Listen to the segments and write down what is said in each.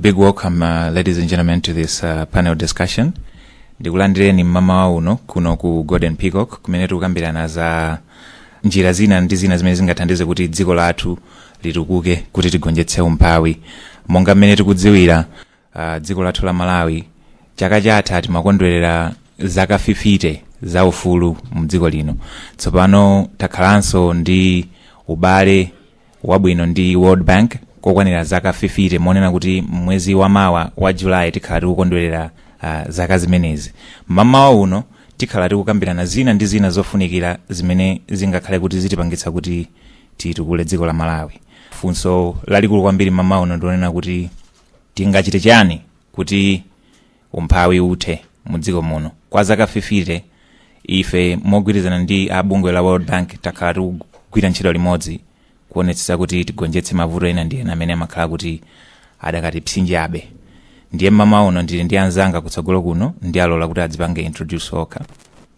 Big welcome, uh, ladies and gentlemen, to this uh, panel discussion. Ndikulandireni mmamawa uno kuno ku Golden Peacock kumene tikukambirana za njira zina ndi zina zimene zingathandize kuti dziko lathu litukuke kuti tigonjetse umphawi. Monga mmene tikudziwira uh, dziko lathu la Malawi chaka chatha timakondwerera zaka 50 za ufulu mu dziko lino. Tsopano takhalanso ndi ubale wabwino ndi world bank kokwanira zaka 50 monena kuti mwezi wa mawa wa julayi tikhala tikukondwerera uh, zaka zimenezi mamawa uno tikhala tikukambirana zina ndi zina zofunikira zimene zingakhale kuti zitipangitsa kuti titukule dziko la malawi funso lalikulu kwambiri mamawa uno ndionena kuti tingachite chani kuti umphawi uthe mu dziko muno kwa zaka 50 ife mogwirizana ndi a bungwe la world bank takhala tikugwira ntchito limodzi kuonetsetsa kuti tigonjetse mavuto ena ndi ena amene amakhala kuti adakatipsinjabe ndiye mmamawa uno ndili ndi anzanga kutsogolo kuno ndiwalola kuti adzipange introduce okha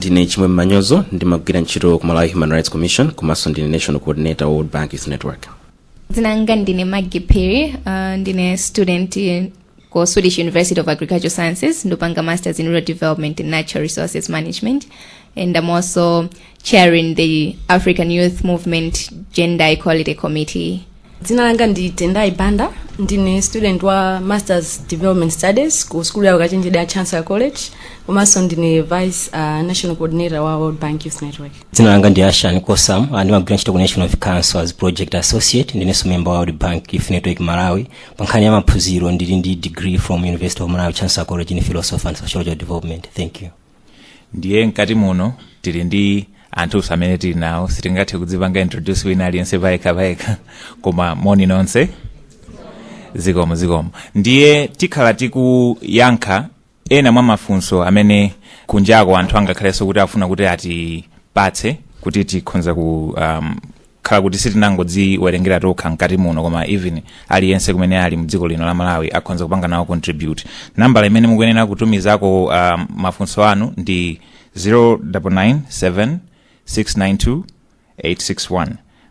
ndine chimwemwe manyozo ndimagwira ntchito ku malawi human rights commission komanso ndine national coordinator wa world bank youth network dzina langa ndine maggie perry uh, ndine student ku swedish university of agricultural sciences ndopanga masters in rural development and natural resources management and i'm also chairing the african youth movement gender equality committee dzina langa ndi tendai banda ndine student wa masters development studies ku skulu ya ukachenjede ya chancellor college komanso ndine vice uh, national coordinator wa world bank youth network dzina langa ndi ashan kosam ah, ndimagwira ntchito ku national youth council as project associate ndinenso member wa world bank youth network malawi pa nkhani ya maphunziro ndili ndi degree from university of malawi chancellor college in philosophy and sociological development thank you ndiye mkati muno tili ndi anthuso amene tili nawo sitingathe kudzipanga introduce wina aliyense payekha payekha koma moni nonse zikomo zikomo ndiye tikhala tikuyankha ena mwa mafunso amene kunjako anthu angakhalenso kuti afuna kuti atipatse kuti tikhonza ku um, khala kuti sitinangodziwerengera tokha mkati muno koma even aliyense kumene ali mdziko lino la malawi akhonza kupanga nawo contribute nambala imene mukuyenera kutumizako um, mafunso anu ndi 0997 692 861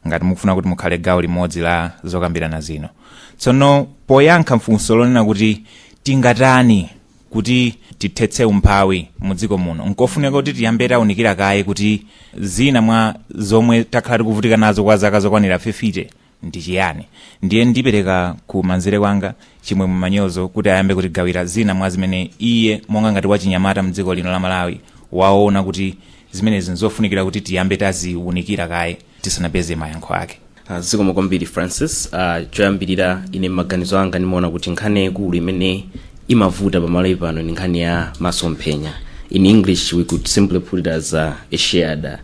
ngati mukufuna kuti mukhale gawo limodzi la zokambirana zino tsono poyankha mfunso lonena kuti tingatani kuti tithetse umphawi mu dziko muno nkofunika kuti tiyambe taunikira kaye kuti zina mwa zomwe takhala tikuvutika nazo kwa zaka zokwanira 50 ndi chiyani ndiye ndipereka ku manzere kwanga chimwemwe manyozo kuti ayambe kutigawira zina mwa zimene iye monga ngati wachinyamata mdziko lino la malawi waona kuti zimenezi nzofunikira kuti tiyambe taziwunikira kaye tisanapeze mayankho ake Uh, zikomo kwambiri francis uh, choyambirira ine maganizo anga ndimaona kuti nkhani yaikulu imene imavuta pamalawi pano ndi nkhani ya masomphenya in english we could simply put it as a, a shared uh,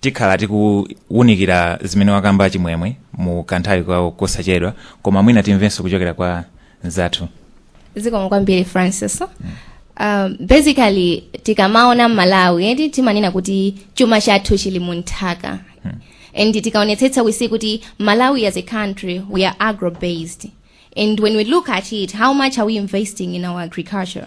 tikhala tikuwunikira zimene wakamba chimwemwe mu kanthawi kosachedwa koma mwina timvenso kuchokera kwa mzathu zikomo kwambiri francis um, basically tikamaona mmalawi eti timanena kuti chuma chathu chili mu nthaka and tikaonetsetsa we see kuti malawi as a country we are agro based and when we look at it how much are we investing in our agriculture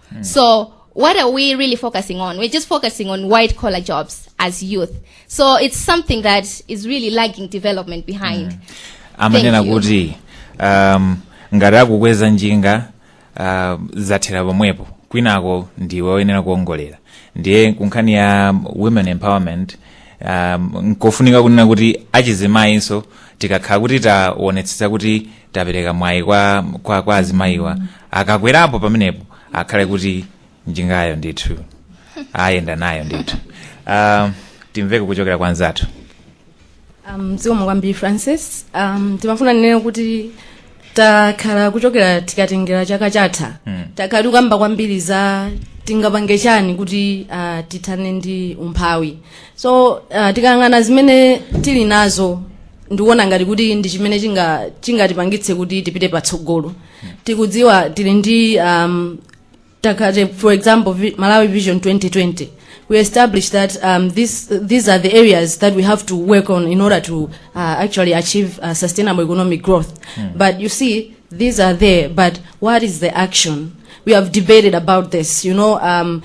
So what are we really focusing on? We're just focusing on white collar jobs as youth. So it's something that is really lagging development behind. Thank you. amanena kuti um, ngati akukweza njinga uh, zathera pomwepo kwinako ndiwe woyenera kuongolera ndiye kunkhani ya women empowerment um, nkofunika kunena kuti achizimayinso tikakhala kuti taonetsetsa kuti tapereka mwayi kwa, kwa, kwa azimayiwa akakwerapo pamenepo akhale kuti njingayo ndithu ayenda nayo ndithu uh, timveko kuchokera kwa nzathu um, zikomo kwambiri francis um, ndimafuna ndinene kuti takhala kuchokera tikatengera chaka chatha mm. takhala tikukamba kwambiri za tingapange chani kuti uh, tithane ndi umphawi so uh, tikayang'ana zimene tili nazo ndikuona ngati kuti ndi chimene chinga- chingatipangitse kuti tipite patsogolo tikudziwa tili ndi um, for example vi- malawi vision 2020 we established that um, this, these are the areas that we have to work on in order to uh, actually achieve uh, sustainable economic growth but you see these are there but what is the action we have debated about this you know um,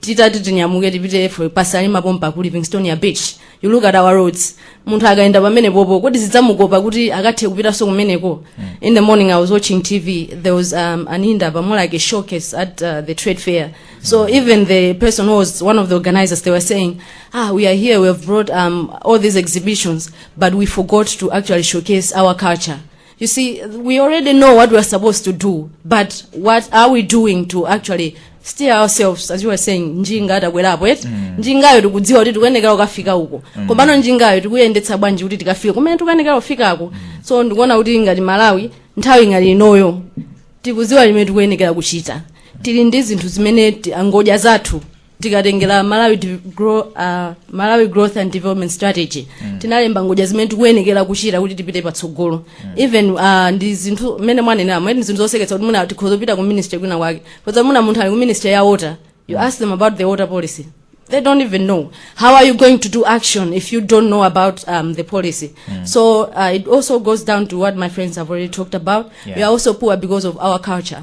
titati tinyamuke tipite for pasani mapompa ku livingstonia beach you look at our roads munthu akayenda pamene popo kodi zidzamukopa kuti akathe kupitanso kumeneko in the morning i was watching tv there was um, an inda pamwe like a showcase at uh, the trade fair so even the person who was one of the organizers they were saying ah we are here we have brought um, all these exhibitions but we forgot to actually showcase our culture You see, we already know what we are supposed to do, but what are we doing to actually steer ourselves as you were saying njinga atakwerapo eti mm. njingayo tikudziwa kuti tikuyenekera kukafika uko mm. komano njingayo tikuyendetsa bwanji kuti tikafike kumene tikuyenekera kufikako mm. so ndikuona kuti ngati malawi nthawi ngati inoyo tikudziwa zimene tikuyenekera kuchita tili ndi zinthu zimene ti- ngodya zathu tikatengera malawi, Dev- Grow, uh, malawi growth and development strategy mm. tinalemba ngodya zimene tikuyenekera kuchita kuti tipite patsogolo mm. even uh, ndi zinthu mmene mwanenera ndi zinthu zoseketsa kuti muna tikhoza kupita ku ministry kwina kwake 'cause muna munthu ali ku ministry ya water you ask them about the water policy they don't even know how are you going to do action if you don't know about um, the policy mm. so uh, it also goes down to what my friends have already talked about Yeah. we are also poor because of our culture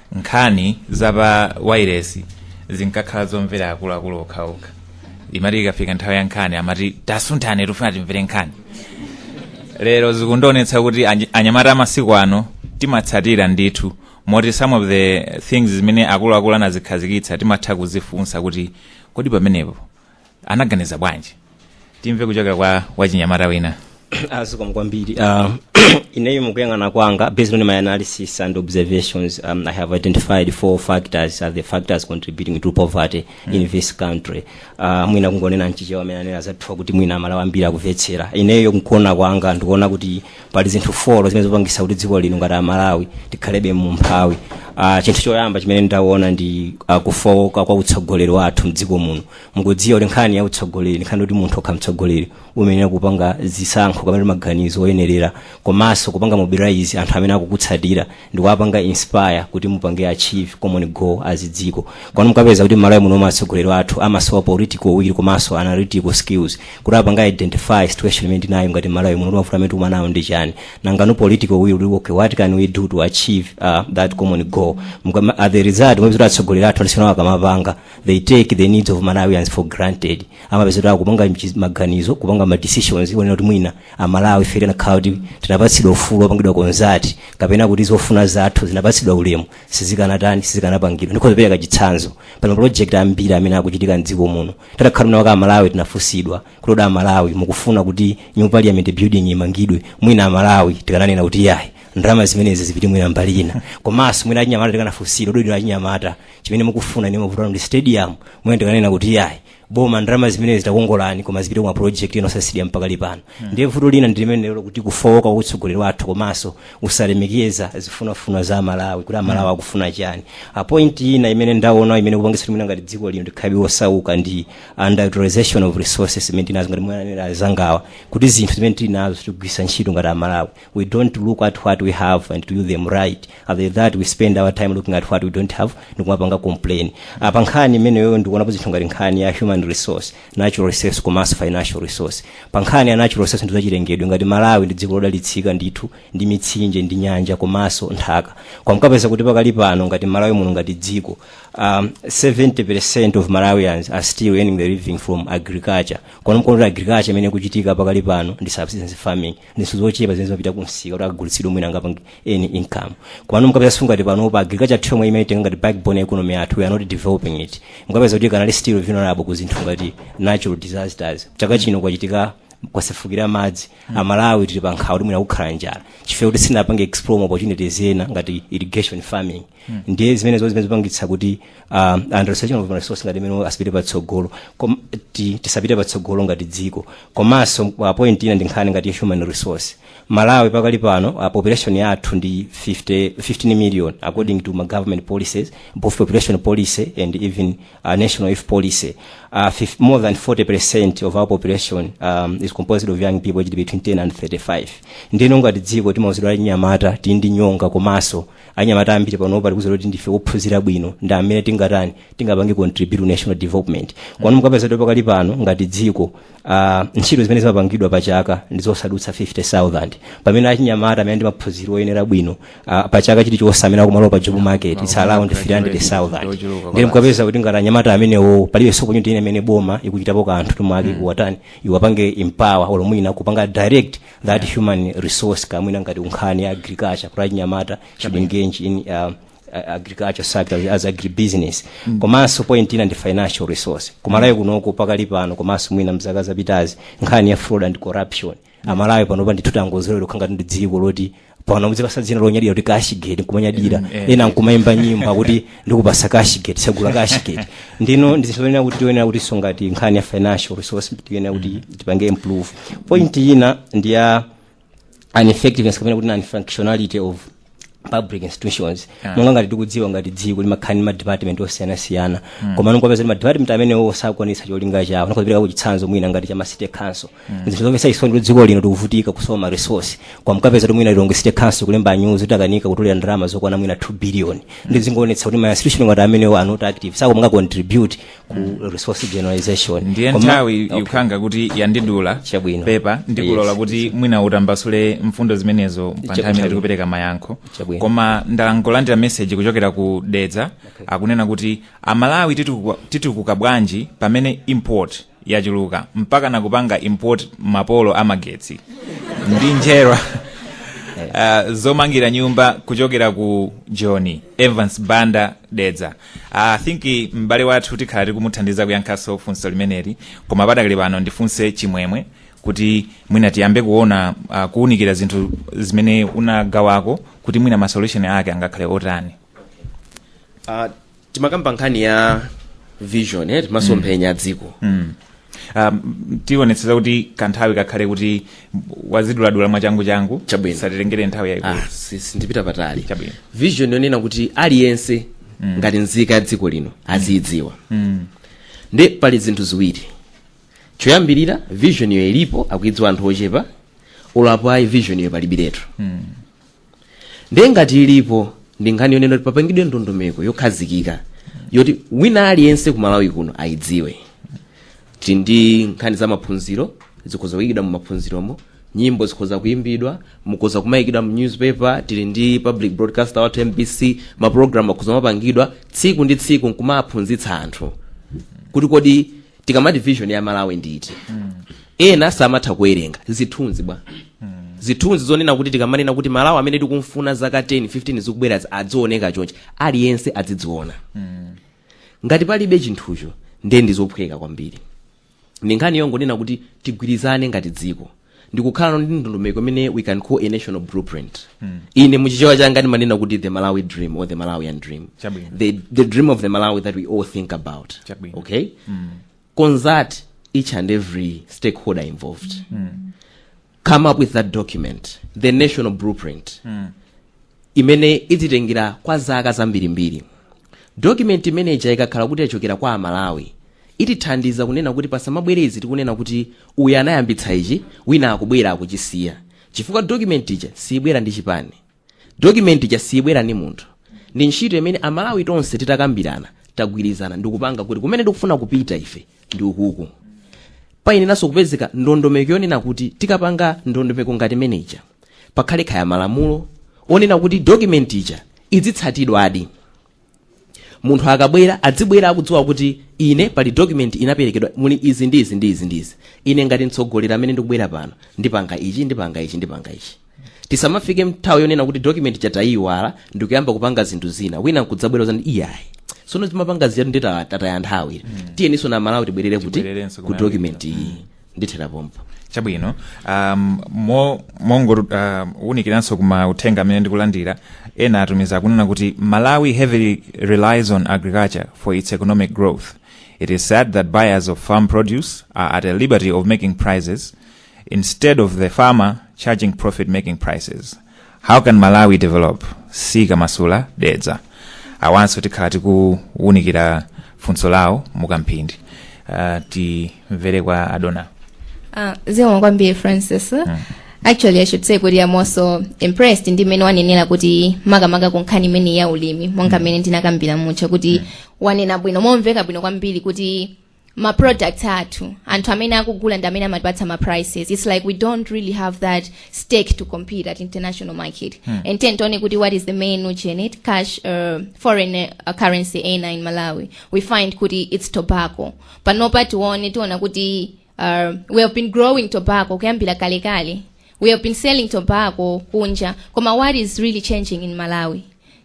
nkhani za pa wireless zinkakhala zomvera akuluakulu okhaokha imati ikafika nthawi ya nkhani amati tasunthane tifuna timvere nkhani lero zikundionetsa kuti anyi- anyamata amasiku ano timatsatira ndithu moti some of the things zimene akuluakulu anazikhazikitsa timatha kuzifunsa kuti kodi pamenepo anaganiza bwanji timve kuchokera kwa wachinyamata wina a zikomo kwambiri uh, ineyo mukuyang'ana kwanga based on my analysis and observations um, i have identified four factors as the factors contributing to poverty mm. in this country uh, mwina kungonena mchichewa mmene anena anzathuwa kuti mwina amalawi ambiri akumvetsera ineyo mkuona kwanga ndikuona kuti pali zinthu folo zimene zikupangisa kuti dziko lino ngati amalawi tikhalebe mumphawi uh, chinthu choyamba chimene ndaona ndi uh, kufowoka kwa utsogoleri wathu mdziko muno mukudziwa kuti nkhani ya utsogoleri ndi nkhani yoti munthu ukakhala mtsogoleri umayenera kupanga zisankho kapena maganizo oyenerera komanso kupanga mobilize anthu amene akukutsatira ndi kuwapanga inspire kuti mupange achieve common goal as dziko komano mukapeza kuti mmalawi muno atsogoleri athu amasowa political will komanso analytical skills kuti apange identify situation imene tinayo ngati mmalawi muno mavuto amene tikukumana nawo ndi chani nangano political will kuti okay what can we do to achieve uh, that common goal Mukama- at the result mupeza kuti atsogoleri athu alisiyana akamapanga they take the needs of malawians for granted amapezeka akupanga mchi- maganizo kupanga ma decisions onena kuti mwina amalawi zikanakhala kuti tinapatsidwa ufulu wopangidwa consult kapena kuti zofuna zathu zinapatsidwa ulemu sizikanatani sizikanapangidwa ndikhoza kupereka chitsanzo pali maproject ambiri amene akuchitika mdziko muno kutakhala mwina kuti amalawi tinafunsidwa kuti kodi amalawi mukufuna kuti new parliament building imangidwe mwina amalawi tikananena kuti yayi ndalama zimenezi zipite mwina mbali ina komanso mwina achinyamata tikanafunsidwa kodi inu achinyamata chimene mukufuna ni mavutano ndi stadium mwina tikananena kuti yayi boma ndalama zimenezi takongolani koma zipite ku project ina osati stadium pakalipano ndiye vuto lina ndi limenelo loti kufowoka kwa utsogoleri wathu komanso kusalemekeza zofunafuna za amalawi kuti amalawi akufuna chani a point ina imene ndaona imene ikupangisa mwina ngati dziko lino tikhalebe osauka ndi underutilization of resources imene tinazo ngati mmene anenera anzangawa kuti zinthu zimene tili nazo tikugwiritsa ntchito ngati amalawi we don't look at what we have and to do them right after that we spend our time looking at what we don't have ndikumapanga complain a pa nkhani imeneyo ndikuonapo zinthu ngati nkhani ya human resource natural resource komanso financial resource pa nkhani ya natural resource ndizachilengedwe ngati malawi ndi dziko lodalitsika ndithu ndi mitsinje ndi nyanja komanso nthaka koma mukapeza kuti pakali pano ngati malawi muno ngati dziko um, 70% of malawians are still earning the living from agriculture komano mukaona agriculture imene ikuchitika pakali pano ndi subsistence farming ndi zochepa zimene zimapita kumsika kuti zikagulitsidwe mwina angapange any income komano mukapeza zoti ngati pano pa agriculture yathu imene timaitenga ngati backbone ya economy yathu we are not developing it mukapeza kuti ikanali still vulnerable ku zinthu ngati natural disasters chaka chino kwachitika kusefukira madzi amalawi tili pa nkhawa kuti mwina kukhala njala chifukwa choti sitinapange explore ma opportunities ena ngati irrigation farming ndiye zimene zo zimene zipangitsa kuti uh, underutilization of resource ngati imene asapite patsogolo Kom- ti- tisapite patsogolo ngati dziko komanso uh, point ina ndi nkhani ngati ya human resource malawi pakali pano uh, population yathu ndi 50, 15 million according to my government policies both population policy and even uh, national youth policy uh, fif- more than 40 percent of our population um, is composed of young people aged between 10 and 35 ndino ngati dziko timauzidwa anyamata tili ndi nyonga komanso anyamata ambiri panopa tikuuzidwa kuti ndife ophunzira bwino ndi amene tingatani tingapange contribute to national development komano mukapeza kuti pakali pano ngati dziko uh, ntchito zimene zimapangidwa pa chaka ndi zosadutsa 50000 pamene achinyamata amene ndi maphunziro oyenera bwino uh, pa chaka chilichonse amene akumalowa pa job market it's around 300000 ndiye mukapeza kuti ngati anyamata amenewo palibe opportunity ina imene boma likuchitapo kanthu kuti mwina kuwatani liwapange empower olo mwina kupanga direct that human resource mwina ngati ku nkhani ya agriculture kuti achinyamata should engage in uh, uh, agriculture sector as agribusiness mm. komanso point ina ndi financial resource kumalawi kunoko pakali pano komanso mwina mzaka zapitazi nkhani ya fraud and corruption amalawi panopa ndithu tangozolowera kukhala ngati ndi dziko loti pano mudzipasa dzina lonyadira kuti cashgate nkumanyadira Mm, eh. ena nkumayimba nyimbo yakuti ndikupasa cashgate tsegula cashgate ndino ndizoyenera kuti tiyenera kuti songati nkhani ya financial resource tiyenera kuti tipange improve point ina ndi ya ineffectiveness kapena kuti non-functionality of public institutions Yeah. monga ngati tikudziwa ngati dziko limakhala ndi ma department osiyanasiyana koma mukapeza kuti ma department amenewo sakwanitsa cholinga chawo ndikupereka chitsanzo mwina ngati cha ma city council zinthu zomvetsa chisoni kuti dziko lino tikuvutika kusowa ma resource koma mukapeza kuti mwina lilongwe city council kulemba nyuzi zoti akanika kutolera ndalama zokwana mwina 2 billion ndiye zingoonetsa kuti ma institution ngati amenewo are not active sakupanga contribute ku resource generalization ndiye Koma- nthawi Okay. ikukhala ngati yandidula Chabwino. pepa ndikulolani Yes. kuti mwina mutambasule mfundo zimenezo pa nthawi imene Chabwino. tikupereka mayankho Chabwino. koma ndangolandira meseji kuchokera ku dedza akunena kuti amalawi titukuka- titukuka bwanji pamene import yachuluka mpaka nakupanga import mapolo amagetsi ndi njerwa uh, zomangira nyumba kuchokera ku joni evans banda dedza i think m'bale wathu tikhala tikumuthandiza kuyankhanso funso limeneli koma padakali pano ndifunse chimwemwe kuti mwina tiyambe kuona uh, kuunikira zinthu zimene unagawako kuti mwina ma solution ake angakhale otani uh, timakamba nkhani ya vision eh, masomphenya a dziko Mm. Um, tionetsetsa kuti kanthawi kakhale kuti waziduladula mwachanguchangu Chabwino. isatitengere nthawi yayikulu ah, si- sindipita patali Chabwino. vision yonena kuti aliyense ngati nzika ya dziko lino aziyidziwa ndiye pali zinthu ziwiri choyambirira visionyo ilipo akuyidziwa anthu ochepa olo apo ayi visionyo palibiretu ndiye ngati ilipo ndi nkhani yonena kuti papangidwe ndondomeko yokhazikika yoti wina aliyense ku malawi kuno ayidziwe tili ndi nkhani za maphunziro zikhoza kuyikidwa mu maphunziromo nyimbo zikhoza kuyimbidwa zikhoza kumayikidwa mu newspaper tili ndi public broadcaster wathu mbc maprogramu akhoza kumapangidwa tsiku ndi tsiku nkumaphunzitsa anthu kuti kodi tikamati vision ya malawi ndi iti ena samatha kuwerenga zithunzi bwa zithunzi zonena kuti tikamanena kuti malawi amene tikumfuna zaka 10 15 zikubwerazi adzioneka chonchi aliyense adzidziona ngati palibe chinthucho ndiye ndizophweka kwambiri ndi nkhani yongonena kuti tigwirizane ngati dziko ndikukhala ndi ndondomeko imene we can call a national blueprint ine muchichewa changa ndimanena kuti the malawi dream or the malawian dream Chabwino. the, the dream of the malawi that we all think about Chabwino. okay consult each and every stakeholder involved come up with that document the national blueprint imene idzitengera kwa zaka zambirimbiri. Document imene ija ikakhala kuti yachokera kwa amalawi itithandiza kunena kuti pasamabwere izi tikunena kuti uyu anayambitsa ichi wina akubwera akuchisiya chifukwa document ija siyibwera ndi chipani document ija siyibwera ndi munthu ndi ntchito imene amalawi tonse titakambirana tagwirizana ndikupanga kuti kumene tikufuna kupita ife ndi ukuku payeneranso kupezeka ndondomeko yonena kuti tikapanga ndondomeko ngati imeneja pakhale kaya malamulo onena kuti document ija idzitsatidwadi munthu akabwera adzibwera akudziwa kuti ine pali document inaperekedwa muli izi ndi izi ndi izi ndi izi ine ngati mtsogoleri amene ndikubwera pano ndipanga ichi ndipanga ichi ndipanga ichi tisamafike mthawi yonena kuti document chatayiwala ndikuyamba kupanga zinthu zina wina nkudzabwera nzati iyayi sono timapanga ziyatu ndi ta- tataya nthawi tiyeninso a malawi tibwerere kuti ku document iyi ndithera pompa chabwino um, mo- mongo um, unikiranso kuma uthenga amene ndikulandira ena atumiza kunena kuti malawi heavily relies on agriculture for its economic growth it is sad that buyers of farm produce are at a liberty of making prices instead of the farmer charging profit making prices how can malawi develop sikamasula dedza awanso tikhala tikuwunikira funso lawo mukamphindi uh, timvere kwa adona Uh, zikomo kwambiri francis actually i should say kuti am also impressed ndi mmene wanenera kuti makamaka ku nkhani imeneyi ya ulimi monga mmene ndinakambira muja kuti wanena bwino momveka bwino kwambiri kuti ma products athu anthu amene akugula ndi amene amatipatsa ma prices it's like we don't really have that stake to compete at international market Hmm. and then tione kuti what is the main nutrient it cash uh, foreign uh, currency ena in malawi we find kuti it's tobacco panopa tione tiona kuti uh, we have been growing tobacco kuyambira kalekale we have been selling tobacco kunja koma what is really changing in malawi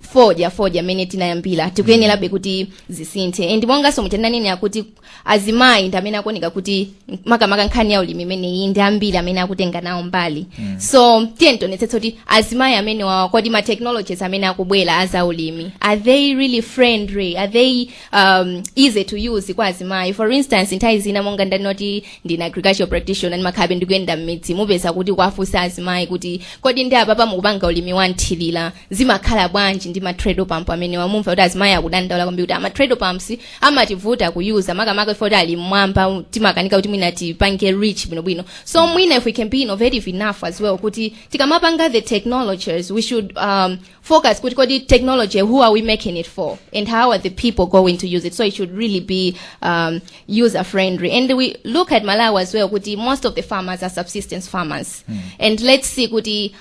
fodya fodya amene tinayambira tikuyenerabe kuti zisinthe and monganso mutananenera kuti azimayi ndi amene akuoneka kuti makamaka nkhani ya ulimi imeneyi ndi ambiri amene akutenga nawo mbali mm. so tiye tionetsetse kuti azimayi amene wawa kodi ma technologies amene akubwera aza ulimi are they really friendly are they um, easy to use kwa azimayi for instance nthawi zina monga ndanena kuti ndine agricultural practitioner ndimakhalabe ndikuyenda mmidzi mumapeza kuti kuwafunsa azimayi kuti kodi ndi apapa mukupanga ulimi wanthirira zimakhala bwanji ndi ma treadle pump amenewa mumva kuti azimayi akudandaula kwambiri kuti ah ma treadle pumps amativuta kuyuza makamaka ife kuti ali mmwamba timakanika kuti mwina tipange reach bwinobwino so mwina if we can be innovative enough as well kuti tikamapanga the technologies we should um, focus kuti kodi technology who are we making it for and how are the people going to use it so it should really be um, user friendly and we look at malawi as well kuti most of the farmers are subsistence farmers and let's see kuti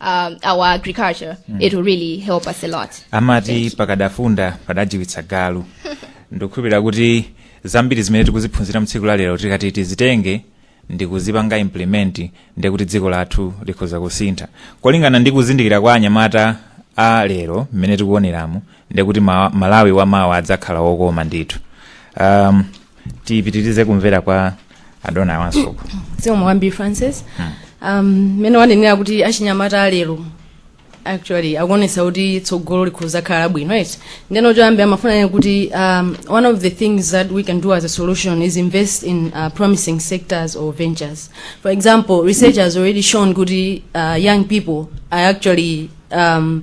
um, our agriculture, it will really help us a lot. amati pakadafunda padajiwitsa galu ndikukhulupirira kuti zambiri zimene tikuziphunzira mtsiku la lero tikati tizitenge ndikuzipanga implement ndiye kuti dziko lathu likhoza kusintha kolingana ndi kuzindikira kwa anyamata a lero mmene tikuoneramu ndiye kuti ma, malawi wa mawa adzakhala wokoma ndithu um, tipitirize kumvera kwa adona awanso zikomo kwambiri francis um, mmene wanenera kuti achinyamata alero actually akuonesa kuti tsogolo likhoza khala bwino eti ndeno choyambirira ndimafuna ndinene kuti um, one of the things that we can do as a solution is invest in uh, promising sectors or ventures for example research has already shown kuti uh, young people are actually um,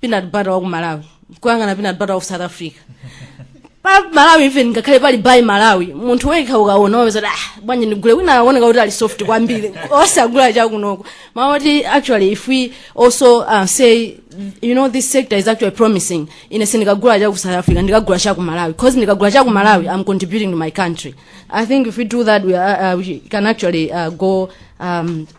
peanut butter wa ku malawi kuyang'ana peanut butter wa south africa pa malawi even ngakhale pali buy malawi munthu wekha ukaona wapeza kuti ah bwanji ndigule wina akuoneka kuti ali soft kwambiri osagula chakunoko whereas actually if we also uh, say you know this sector is actually promising ine sindikagula chaku south africa ndikagula chaku malawi because ndikagula chaku malawi i'm contributing to my country i think if we do that we, are, uh, we can actually uh, go um,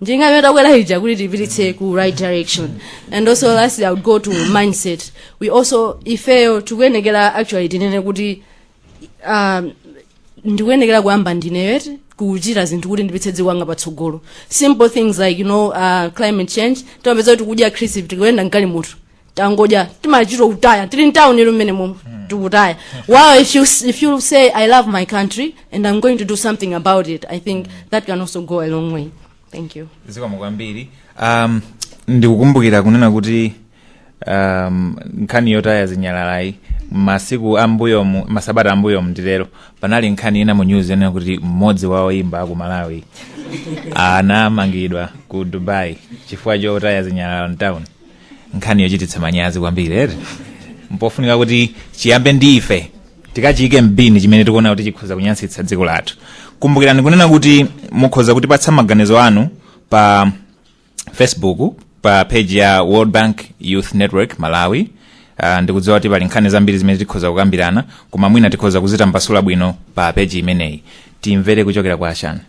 njinga takwera ija kuti tipititse ku right direction and also lastly i would go to mindset we also ifeyo tikuyenekera actually tinene kuti um, ndikuyenekera kuyamba ndineyo eti kuchita zinthu kuti ndipitse dziko langa patsogolo simple things like you know uh, climate change timapeza kuti tikudya crisp tikuyenda nkalimu tu tangodya timachita kutaya tili mtawuni ilo mmene momwe tikutaya well if you, if you say i love my country and i'm going to do something about it i think that can also go a long way thank you zikomo kwambiri um, ndikukumbukira kunena kuti um, nkhani yotaya zinyalalayi masiku ambuyomu masabata ambuyomu ndilero panali nkhani ina mu news yonena kuti mmodzi wa oyimba aku malawi anamangidwa ku dubai chifukwa chotaya zinyalala mtown nkhani yochititsa manyazi kwambiri eh mpofunika kuti chiyambe ndi ife tikachiyike mbini chimene tikuona kuti chikhoza kunyansitsa dziko lathu kumbukirani kunena kuti mukhoza kutipatsa maganizo anu pa facebook pa page ya world bank youth network malawi uh, ndikudziwa kuti pali nkhani zambiri zimene tikhoza kukambirana koma mwina tikhoza kuzitambasula bwino pa page imeneyi timvere kuchokera kwa ashani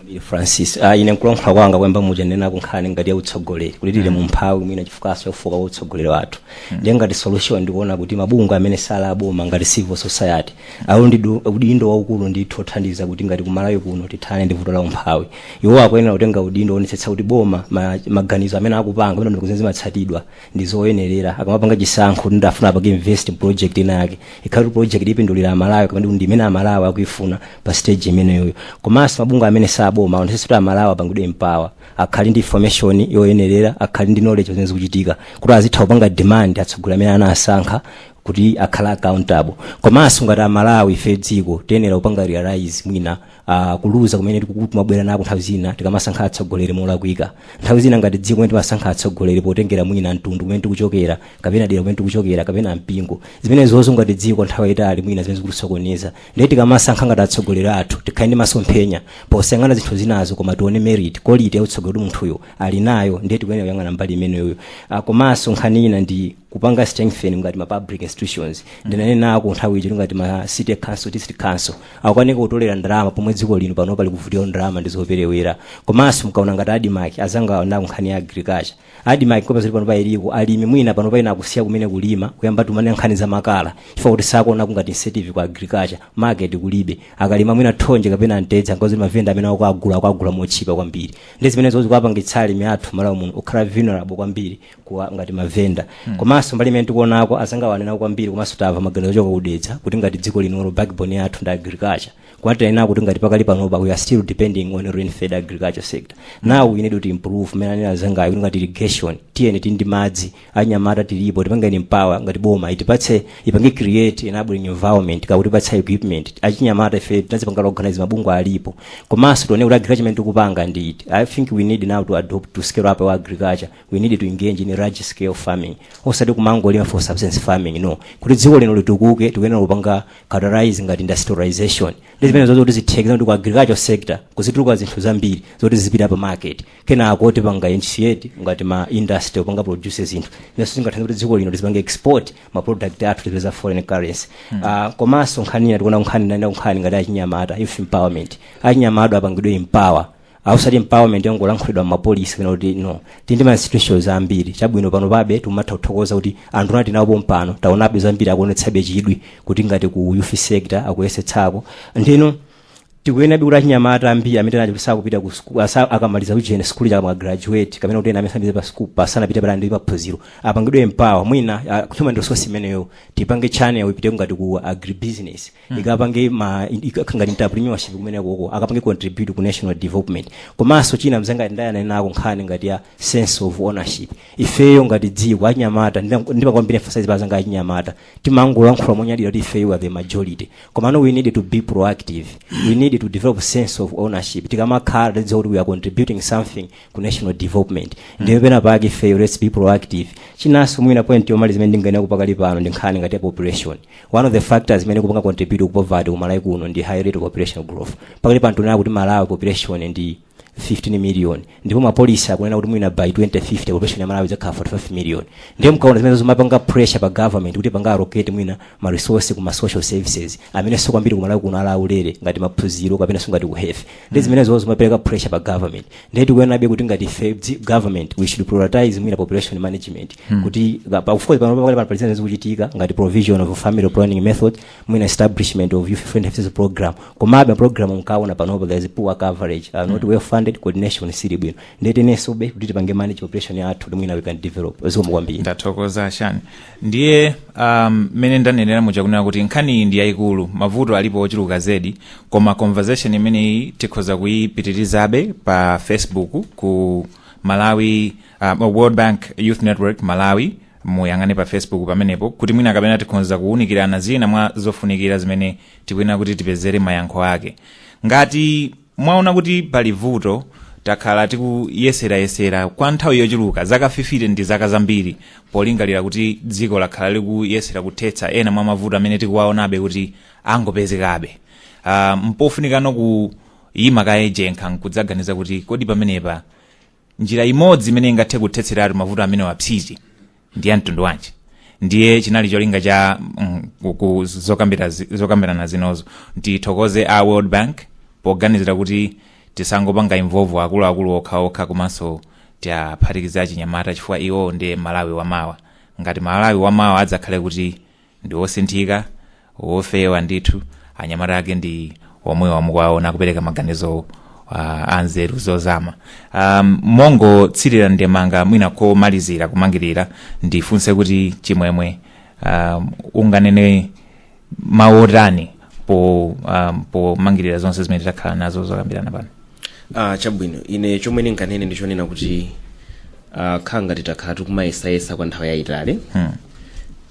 Ili francis ah, ine nkulankhula kwanga koyamba muja ndinanena kunkhani ngati ya utsogoleri kuti tili mu umphawi mwina chifukwanso chofooka kwa utsogoleri wathu ndiye ngati solution ndikuona kuti mabungwe amene sali aboma ngati civil society awo ndi du- udindo waukulu ndithu othandiza kuti ngati kumalawi kuno tithane ndi vuto la umphawi iwo akuyenera kutenga udindo oonetsetsa kuti boma ma- maganizo amene akupanga pamene ndikuti zimatsatidwa ndi zoyenerera akamapanga chisankho kuti ndifuna apange invest in project ina yake ikhale project ipindulire amalawi kapena ndi imene amalawi akuifuna pa stage imeneyoyo komanso mabungwe amene sali aboma aonetsetse kuti amalawi apangidwe empower akhale ndi information yoyenerera akhale ndi knowledge zimene zikuchitika kuti azitha kupanga demand atsogoleri amene anasankha kuti akhale accountable komanso ngati amalawi ife dziko tiyenera kupanga realize mwina uh, kuluza kumene tikuku- kumabwera nako nthawi zina tikamasankha atsogoleri molakwika nthawi zina ngati dziko kumene timasankha atsogoleri potengera mwina mtundu kumene tikuchokera kapena dera kumene tikuchokera kapena mpingo zimenezozo ngati dziko nthawi yayitali mwina zimene zikutisokoneza ndiye tikamasankha ngati atsogoleri athu tikhale ndi masomphenya posayang'ana zinthu zinazo koma tione merit quality ya utsogoleri munthuyo ali nayo ndiye tikuyenera kuyang'ana mbali imeneyoyo Ah, komanso nkhani ina ndi kupanga strengthen ngati ma public institutions ndinanenako nthawi ija ngati ma city council district council akukanika kutolera ndalama pomwe dziko lino panopa likuvutika ndalama ndi zoperewera komanso mukaona ngati admarc azanga anena nkhani ya agriculture admarc kopa zili panopa iliko alimi mwina panopa ena akusiya kumene kulima kuyamba tumane nkhani za makala chifukwa kuti sakuona ngati incentive kwa agriculture market kulibe akalima mwina thonje kapena mtedza ngozi mavenda amene akuagula akuagula motchipa kwambiri ndi zimenezo zikuapangitsa alimi athu malawi muno kukhala vulnerable kwambiri kwa ngati mavenda komanso mbali imene tikuonako azangawa anena kwambiri komanso tamva maganizo ochoka ku dedza kuti ngati dziko linolo backbone yathu ndi agriculture koma tinena kuti ngati pakali panopa we are still depending on rain fed agriculture sector now we need to improve mmene anena azangayo kuti ngati irrigation tiyeni tili ndi madzi anyamata tilipo tipangeni empower ngati boma itipatse ipange create enabling environment pakutipatsa equipment achinyamata ife tinazipanga organize mabungwe alipo komanso tione kuti agriculture imene tikupanga ndi iti i think we need now to adopt to scale up our agriculture we need to engage in large scale farming osati kumangolima for subsistence farming no kuti dziko lino litukuke tikuyenera kupanga categorize ngati industrialization ndi zimenezozo kuti zitheke zoti ku agriculture sector kuzituluka zinthu zambiri zoti zizipita pa market kenako tipanga initiate ngati ma industry opanga produce zinthu nazo zingathandiza kuti dziko lino lizipanga export ma product athu tipeza foreign currency Hmm. Ah, komanso nkhani ina tikuona nkhani nana nkhani ngati achinyamata youth empowerment achinyamata apangidwe empower osati empowerment yangolankhulidwa mmapolisi kunena kuti no tindi ma institutions ambiri chabwino pano pabe timatha kuthokoza kuti anthu omwe tili nawo pompano taonabe zambiri akuonetsabe chidwi kuti ngati ku youth sector akuyesetsako ndiye tikuyenerabe kuti achinyamata ambiri amene mwina kuti sakupita ku school asa- akamaliza kujene sikulu kaya ma graduate kapena kuti ena amene sanapite pa school asanapite patali ndi maphunziro apangidwe empower mwina uh, human resource imeneyo tipange channel ipite ngati ku agribusiness ikapange ma ikapange entrepreneurship kumene koko akapange contribute ku national development komanso china chimene ndayang'ana nacho nkhani ngati ya sense of ownership ifeyo ngati dziko achinyamata ndimapanga emphasize kwa anzanga achinyamata timangolankhula monyadira kuti ifeyo are the majority komano we need to be proactive we need to develop sense of ownership tikamakhala tidziwa kuti we are contributing something ku national development ndiye pena pake ifeyo let's be proactive chinanso mwina point yomaliza imene ndingayenera kupanga pakali pano ndi nkhani ngati ya population one of the factors zimene zikupanga contribute ku poverty ku malawi kuno ndi high rate of population growth pakali pano tikunena kuti malawi population ndi 15 million ndipo mapolisi akunena kuti mwina by 2050 population ya malawi idzakhala 45 million ndiye mukaona zimenezo zimapanga pressure pa government kuti apange allocate mwina ma resources ku ma social services amenenso kwambiri ku malawi kuno ali aulere ngati maphunziro kapenanso ngati ku health ndiye zimenezo zimapereka pressure pa government ndiye tikuyenerabe kuti ngati ife dzi- government we should prioritize mwina population management kuti ka- pa- of course pano pakali pano pali zina zikuchitika ngati provision of family planning methods mwina establishment of youth friendly services program komabe program mukaona panopo there is poor coverage uh, not well funded coordination sili bwino ndiye tiyenesobe kuti tipange manage population yathu kuti mwina we can develop zikomo kwambiri ndathokoza shani ndiye um, mmene ndanenera muja kunena kuti nkhaniyi ndi yayikulu mavuto alipo ochuluka zedi koma conversation imeneyi tikhoza kuyipitirizabe pa facebook ku malawi um, world bank youth network malawi muyang'ane pa facebook pamenepo kuti mwina kapena tikhoza kuwunikirana zina mwa zofunikira zimene tikuyenera kuti tipezere mayankho ake ngati mwaona kuti pali vuto takhala tikuyeserayesera kwa nthawi yochuluka zaka 50 ndi zaka zambiri polingalira kuti dziko lakhala likuyesera kuthetsa ena mwa mavuto amene tikuwaonabe kuti akungopezekabe uh, mpofunikano kuyima kaye tchenkha nkudzaganiza kuti kodi pamenepa njira imodzi imene ingathe kuthetseratu mavuto amenewa psiti ndi ya mtundu wanji ndiye chimene chinali cholinga cha mm, ku- ku- zokambira zi- zokambirana zinozo tithokoze a world bank poganizira kuti tisangopanga involve akuluakulu okhaokha komanso tiaphatikize achinyamata chifukwa iwo ndi malawi wamawa ngati malawi wamawa adzakhale kuti ndi osinthika ofewa ndithu anyamata ake ndi omwewa mukuwaona kupereka maganizo uh, anzeru zozama um, mongotsirira ndemanga mwina komalizira kumangirira ndifunse kuti chimwemwe um, unganene mawu otani po um, pomangirira zonse zimene takhala nazo zokambirana pano ah, chabwino ine chomwe ndinganene ndichonena kuti ah, khanga titakhala tikumayesayesa kwa nthawi yayitali hmm.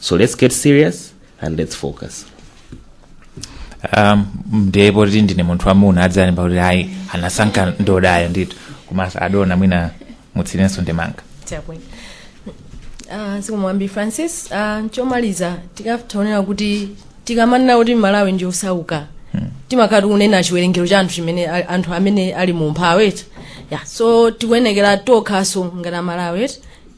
so let's get serious and let's focus um, ndiye poti ndine munthu wamuna adzalemba kuti ayi anasankha ndodayo ndithu komanso adona mwina mutsirenso ndemanga chabwino Ah, sikumwambi francis ah, nchomaliza titaonera kuti tikamanena kuti malawi ndi osauka timakhala tikunena chiwerengero cha anthu chimene a- anthu amene ali mu umphawi eti ya so tikuyenekera tokhaso ngati amalawi eti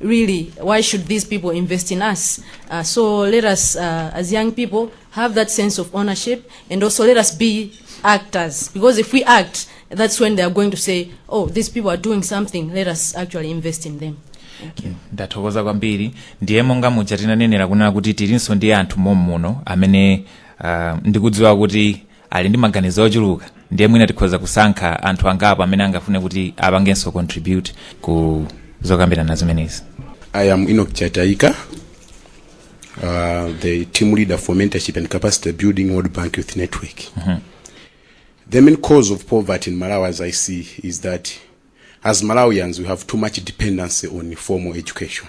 really why should these people invest in us uh, so let us uh, as young people have that sense of ownership and also let us be actors because if we act that's when they are going to say oh these people are doing something let us actually invest in them ndathokoza kwambiri ndiye monga muja tinanenera kunena kuti tilinso ndi anthu mommuno amene uh, ndikudziwa kuti ali ndi maganizo ochuluka ndiye mwina tikhoza kusankha anthu angapo amene angafune kuti apangenso contribute ku zokambirana zimenezi I am Enoch Chataika, uh, the team leader for mentorship and capacity building World Bank Youth Network. The main cause of poverty in Malawi, as I see, is that as Malawians, we have too much dependency on formal education.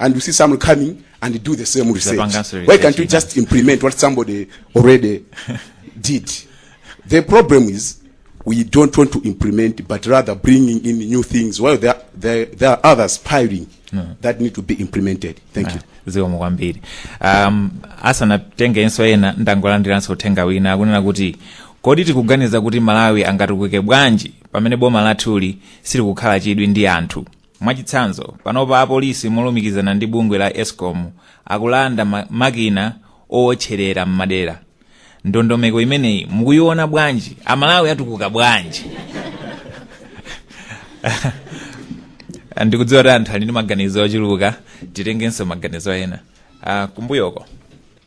and you see someone coming and they do the same research. Zapanganso research, Why can't you just implement what somebody already did? The problem is we don't want to implement, but rather bringing in new things. Well, there, there, there are others piling that need to be implemented. Thank you. zikomo kwambiri um, asanatengenso ena ndangolandiranso uthenga wina akunena kuti kodi tikuganiza kuti malawi angatukuke bwanji pamene boma lathuli silikukhala chidwi ndi anthu Mwachitsanzo, panopa apolisi molumikizana ndi bungwe la escom akulanda makina owotcherera m'madera. Ndondomeko imeneyi mukuyiona bwanji? Amalawi atukuka bwanji? ndikudziwa kuti anthu ali ndi maganizo ochuluka titengenso maganizo ena uh, kumbuyoko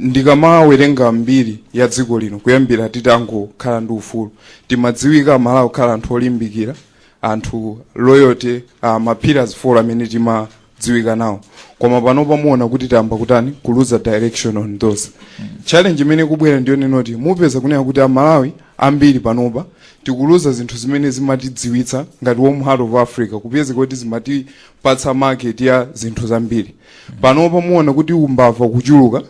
ndikamawerenga mbiri ya dziko lino kuyambira titangokhala ndi ufulu timadziwika amalawi kukhala anthu olimbikira anthu loyalty uh, mapillars four amene timadziwika nawo koma panopa muona kuti tayamba kutani kuluza direction on those challenge imene kubwera ndi yonena kuti mupeza kunena kuti amalawi ambiri panopa tikuluza zinthu zimene zimatidziwitsa ngati warm heart of africa kupeza kuti zimatipatsa market ya zinthu zambiri panopa muona kuti umbava kuchuluka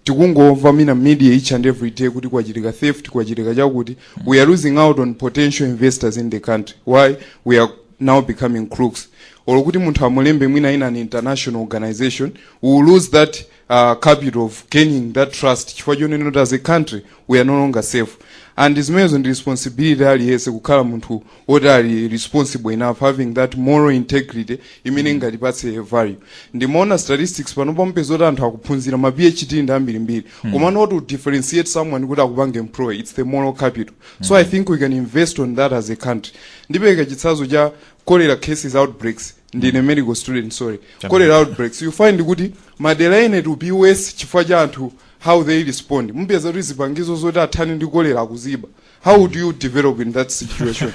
tikungomva mu ma media each and every day kuti kwachitika theft kwachitika chakuti we are losing out on potential investors in the country why we are now becoming crooks or kuti munthu akulembe mwina in an international organization we will lose that uh, capital of gaining that trust chifukwa chonena kuti as a country we are no longer safe and zimenezo ndi responsibility ya aliyense kukhala munthu woti ali responsible enough having that moral integrity imene ingatipatse value ndimaona statistics pano pamupeza kuti anthu akuphunzira ma phd ndi ambirimbiri koma not to differentiate someone kuti akupange employ its the moral capital so i think we can invest on that as a country ndipereka chitsanzo cha cholera cases outbreaks ndine medical student sorry cholera outbreaks you find kuti madera ena to be worse chifukwa cha anthu how they respond mupeza kuti zipangizo zoti athane ndi cholera akuziba how would you develop in that situation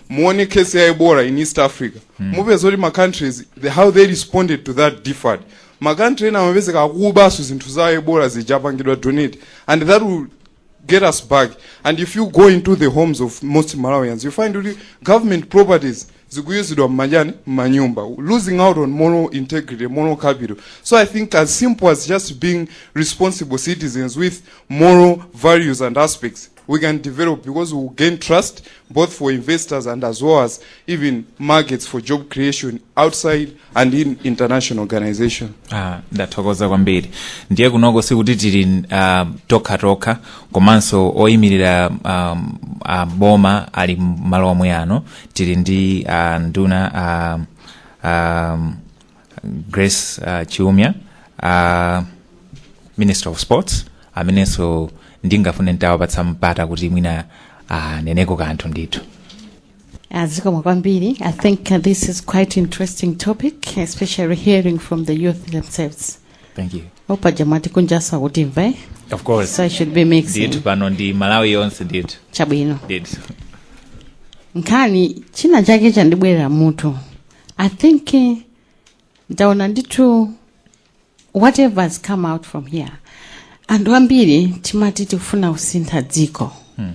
muone case ya ebola in east africa mupeza kuti ma countries the, how they responded to that differed ma country ena amapezeka akubaso zinthu za ebola zija apangidwa donate and that will get us back and if you go into the homes of most malawians you find kuti government properties zikuyuzidwa mmajani mmanyumba losing out on moral integrity moral capital so i think as simple as just being responsible citizens with moral values and aspects we can develop because we will gain trust both for investors and as well as even markets for job creation outside and in international organization. Ah, ndathokoza kwambiri ndiye kunoko sikuti tili uh, tokhatokha komanso oyimirira um, uh, boma ali mmalo omwe ano tili ndi uh, nduna uh, um, grace uh, chiumia uh, minister of sports amenenso ndingafune nditawapatsa mpata kuti mwina aneneko kanthu ndithu Uh, zikomo kwambiri i think uh, this is quite interesting topic especially hearing from the youth themselves thank you o paja mwati kunjaku akutimva of course so i should be mixing ndithu pano ndi malawi yonse ndithu chabwino ndithu nkhani china chake chandibwerera mmutu i think eh, ndaona ndithu whatever has come out from here anthu ambiri timati tikufuna kusintha dziko Hmm.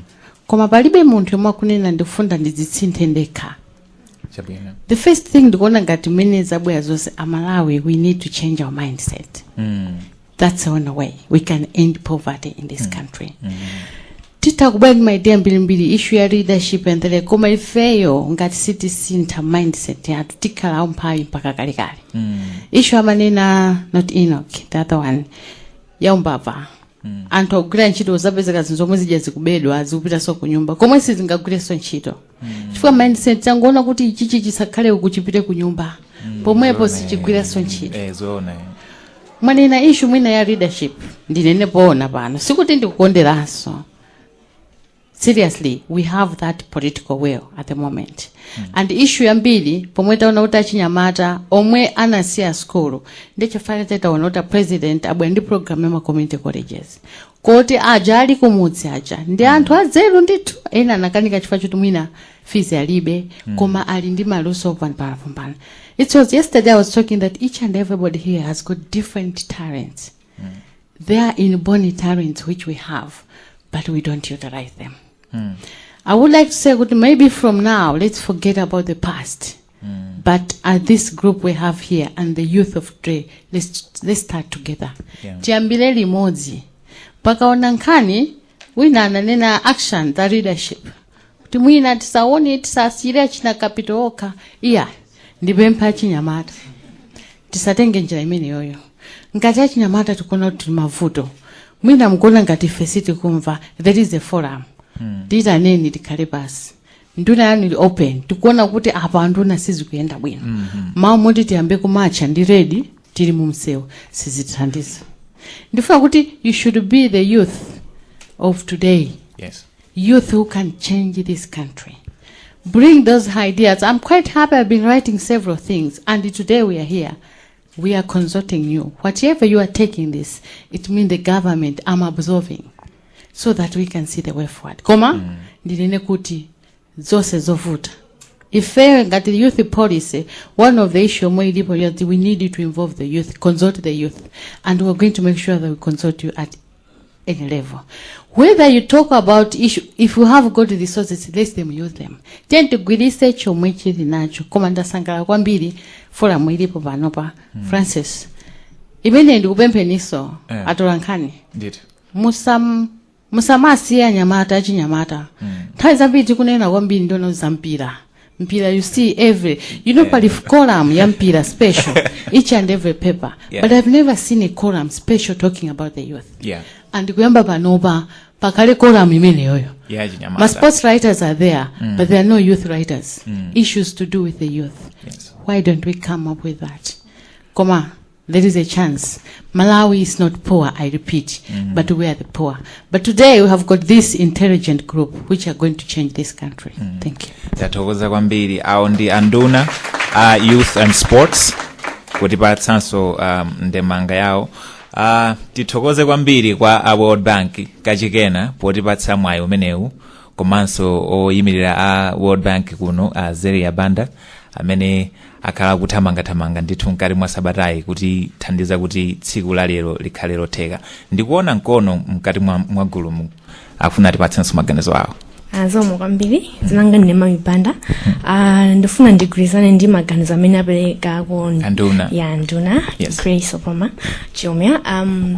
koma palibe munthu yemwe akunena ndikufuna ndidzisinthe ndekha chabwino the first thing ndikuona ngati mmene zabwera zonse amalawi we need to change our mindset Mm. that's the only way we can end poverty in this country titha kubwera ndi ma idea ambirimbiri issue ya leadership and the like koma ifeyo ngati sitisintha mindset yathu tikhala aumphawi mpaka kalekale issue amanena not enoch the other one yaumbava anthu akugwira ntchito zapezeka zinthu zomwe zija zikubedwa zikupitanso ku nyumba komwe sizingagwirenso ntchito chifukwa mindset yangoona kuti ichichi chisakhale uku chipite ku nyumba pomwepo sichigwirenso ntchito eh zoona eh. mwanena issue mwina ya leadership ndinene poona pano sikuti ndikukonderanso seriously we have that political will at the moment and issue yambiri pomwe taona kuti achinyamata omwe anasiya sukulu ndichifana taona kuti a president abwera ndi program ya ma community colleges koti aja ali kumudzi aja ndi anthu adzeru ndithu ena anakanika chifukwa choti mwina fees alibe koma ali ndi maluso opambanapombana it was yesterday i was talking that each and everybody here has got different talents they are inborn talents which we have but we don't utilize them i would like to say kuti maybe from now let's forget about the past but at this group we have here and the youth of today let's, let's start together Yeah. tiyambire limodzi pakakhala nkhani wina ananena action za leadership kuti mwina tisaone tisasiyire achina kapito okha iya ndipempha achinyamata tisatenge njira imeneyoyo ngati achinyamata tikuona kuti tili mavuto mwina mukuona ngati ife sitikumva there is a forum tiitaneni tikhale pasi nduna yanu ili open tikuona kuti apa anduna sizikuyenda bwino mawu moti tiyambe kumatcha ndi ready tili mu msewu sizithandiza ndifuna kuti you should be the youth of today yes youth who can change this country bring those ideas i'm quite happy i've been writing several things and today we are here we are consulting you whatever you are taking this it means the government i'm absorbing so that we can see the way forward koma mm. ndinene kuti zonse zovuta ifeyo ngati youth policy one of the issue yomwe ilipo yoti we need you to involve the youth consult the youth and we're going to make sure that we consult you at any level whether you talk about issue if you have got resources let them use them tiyeni tigwiritse chomwe chili nacho koma ndasangalala kwambiri forum ilipo panopa mm. francis imene ndikupempheninso Eh. atolankhani ndithu musam musamasiye anyamata achinyamata nthawi zambiri tikunena kwambiri ndono za mpira mpira you see every you know pali column ya mpira special each and every paper Yeah. but i've never seen a column special talking about the youth Yeah. and kuyamba panopa pakale column imeneyoyo Yeah, chinyamata. ma sports writers are there Mm. but there are no youth writers Mm. issues to do with the youth Yes. why don't we come up with that koma There is a chance. Malawi is not poor, I repeat, mm. but we are the poor. But today we have got this intelligent group which are going to change this country. Mm. Thank you. Tathokoza kwambiri awo ndi anduna a uh, youth and sports kutipatsanso um, ndemanga yawo uh, tithokoze kwambiri kwa a world bank kachikenanso potipatsa mwayi umenewu komanso oyimirira a world bank kuno a zeria banda amene akhala akuthamangathamanga ndithu mkati mwa sabatayi kutithandiza kuti tsiku la lero likhale lotheka ndikuona mkono mkati mwa, mwa gulumu afuna atipatsenso maganizo awo zikomo kwambiri dzina langa ndine Mami Banda Ah, ndifuna ndigwirizane ndi maganizo amene apereka ku Anduna. ya nduna Yes. Grace Obama Chiumia um,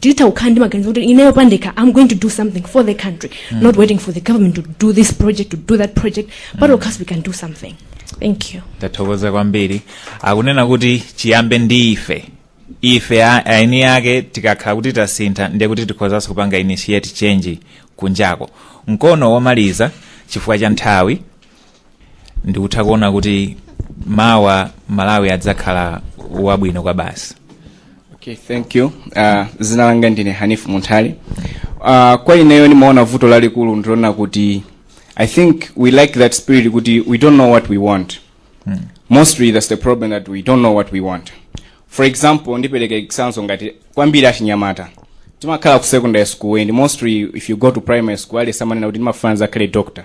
titha kukhala ndi maganizo kuti ineyo pandekha i'm going to do something for the country mm. not waiting for the government to do this project to do that project patokha mm. we can do something thank you tathokoza kwambiri akunena kuti chiyambe ndi ife ife eni ake tikakhala kuti tasintha ndiye kuti tikhozanso kupanga initiate change kunjako mkono womaliza chifukwa cha nthawi ndikutha kuona kuti mawa malawi adzakhala wabwino kwa basi Okay, thank you. Uh, dzina langa ndine Hanifu Munthali. Uh, kwa ineyo nimaona vuto lalikulu ndilonena kuti I think we lack that spirit kuti we don't know what we want. Mostly that's the problem that we don't know what we want. For example, ndipereka example ngati kwambiri achinyamata. Timakhala ku secondary school and mostly if you go to primary school aliyense amanena kuti ndimafuna ndizakhale doctor.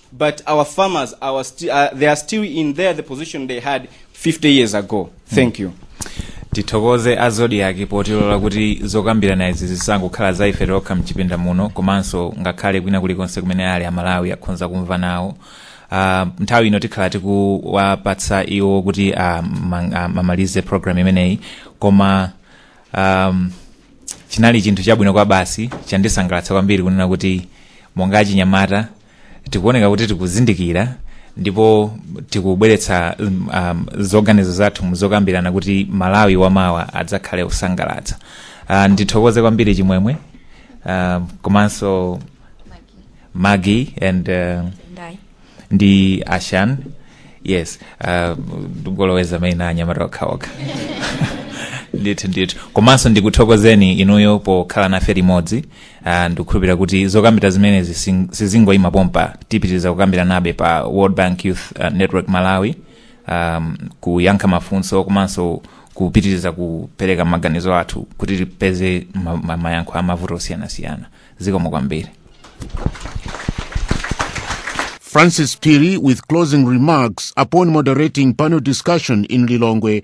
but our farmers are sti uh, they are still in there the position they had 50 years ago thank you tithokoze a zodiac potilola kuti zokambirana izi zisangokhala za ife tokha mchipinda muno komanso ngakhale kwina kulikonse kumene ali amalawi akhonza kumva nawo Uh, nthawi ino tikhala tikuwapatsa iwo kuti amalize uh, program imeneyi koma um, chinali chinthu chabwino kwa basi chandisangalatsa kwambiri kunena kuti monga achinyamata tikuoneka kuti tikuzindikira ndipo tikubweretsa um, um, zoganizo zathu muzokambirana kuti malawi wamawa adzakhale wosangalatsa uh, ndithokoze kwambiri chimwemwe uh, komanso Maggie and uh, Ndai. ndi ashan yes uh, ndingoloweza maina anyamata okhaokha ndithu ndithu komanso ndikuthokozeni inuyo pokhala nafe limodzi Ah, ndikukhulupirira kuti zokambira zimenezi sing- sizingoyima pompa tipitiriza kukambiranabe pa world bank youth ah, network malawi um, kuyankha mafunso komanso kupitiriza kupereka maganizo athu kuti tipeze ma- ma- mayankho a mavuto osiyanasiyana zikomo kwambiri Francis Phiri with closing remarks upon moderating panel discussion in Lilongwe